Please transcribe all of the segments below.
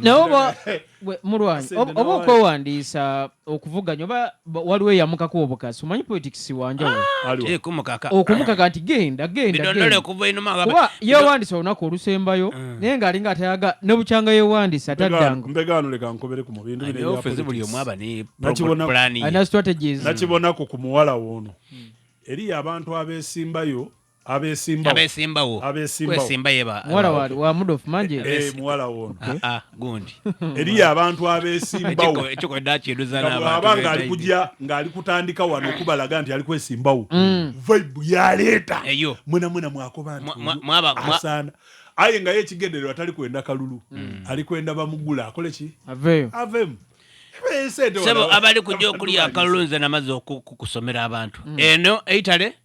naye oba mulwanyi oba okwewandiisa okuvuganya oba waliwo eyamukako obukasi omanyi politics wanjawookumukaka ah, nti genda gendakuba yewandiisa olunaku olusembayo mm. naye nga alinga atayaga nebukyanga yewandiisa taddangonakibonako ku muwala woono mm. eriyo abantu abesimbayo abesimbawo abesimbawo abesimbawo kwesimba yeba muwala wa wa mudofu manje eh muwala wono ah, ah gundi eri abantu abesimbawo ekyo ko dachi eduza na abantu abanga ali kujja ngali kutandika wano kubalaga nti ali kwesimbawo mm. vibe ya leta eyo muna muna mwako bantu mwaba asana aye nga ye kigendero atali kwenda kalulu mm. ali kwenda bamugula akole ki aveyo avemu sebo abali kujja okulya akalulu nze namaze okukusomera abantu mm. eno eitale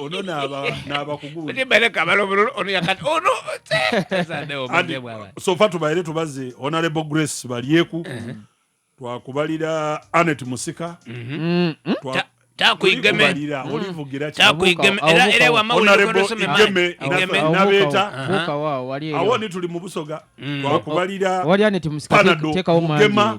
ono nabakugusofa tubaire tubaze honorable grace balyeku uh-huh. twakubalira anet musika mm-hmm. mm-hmm. takuigemeera mm. olivugira nabeeta awo ni tuli mu busoga mm. twakubalira panado mugema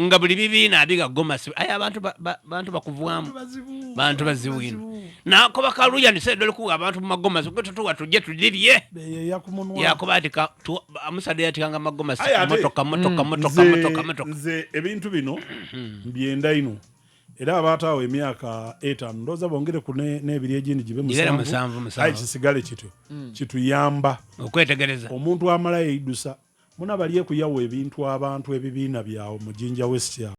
nga buli bibiina abiga gomasi aye abantu bantu bakuvwamu bantu bazibu ino nakoba kaluya nisedole kuwa abantu mumagomasi gwe tutuwa tujje tulibye yakuba ati amusade yatikanga magomasi motoka motoka mm. motoka motoka motoka nze ebintu bino mbyenda ino era abaataawo emyaka etaano ndooza bongere ku n'ebiri egindi gibe musanvu aye kisigale kityo mm. kituyamba okwetegereza omuntu amalayo eidusa Muna balyeku yawa ebintu abantu ebibiina byawo mu jinja west awo.